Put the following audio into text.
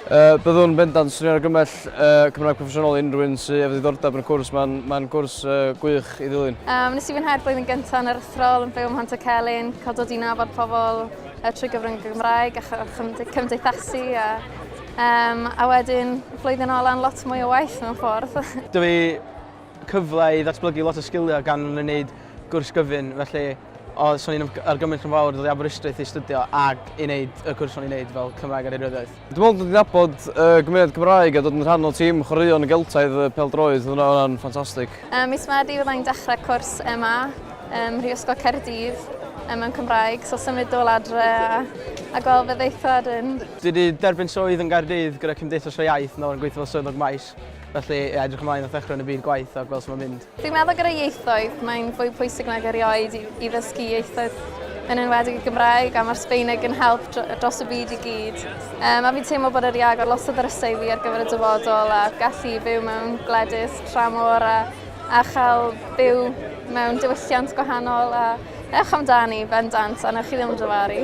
Uh, byddwn bendant swnio'n argymell uh, Cymraeg proffesiynol unrhyw un sydd efo ddiddordeb yn y cwrs. Mae'n ma gwrs uh, gwych i ddilyn. Um, nes i fwynhau'r blwyddyn gyntaf yn yr athrol yn byw ym Mhant y Celyn, cael dod i nabod pobl, a trwy gyfrwng y Gymraeg a cymdeithasu a, um, a wedyn flwyddyn ola'n lot mwy o waith mewn ffordd. Dwi fi cyfle i ddatblygu lot o sgiliau gan fy wneud gwrs gyfyn, felly o, so ni'n argymell yn fawr ddod i Aberystwyth i studio ac i wneud y cwrs o'n i'n wneud fel Cymraeg ar Eiriolyddiaeth. Dwi'n meddwl dod i nabod y gymuned Gymraeg a dod yn rhan o tîm chwaraeon Geltaidd y pêl-droed, hwnna hwnna'n ffantastig. Um, mis Medi fydda i'n dechrau cwrs yma, um, Rhiosgo Caerdydd, um, mewn Cymraeg, so symud dôl adre a, a gweld fe ddeithwad yn... Dwi wedi derbyn swydd yn Gaerdydd gyda Cymdeithas y Iaith nawr yn gweithio fel swyddog maes, felly edrych ymlaen at ddechrau yn y byd gwaith a gweld sut mae'n mynd. Dwi'n meddwl gyda ieithoedd, mae'n fwy pwysig nag erioed i, i ddysgu ieithoedd yn enwedig y Gymraeg a mae'r Sbeineg yn help dros y byd i gyd. Um, a fi'n teimlo bod yr i agor lot o ddrysau i fi ar gyfer y dyfodol a gallu byw mewn gwledus tramor a, a chael byw mewn diwylliant gwahanol a ewch amdani bendant a newch chi ddim dyfaru.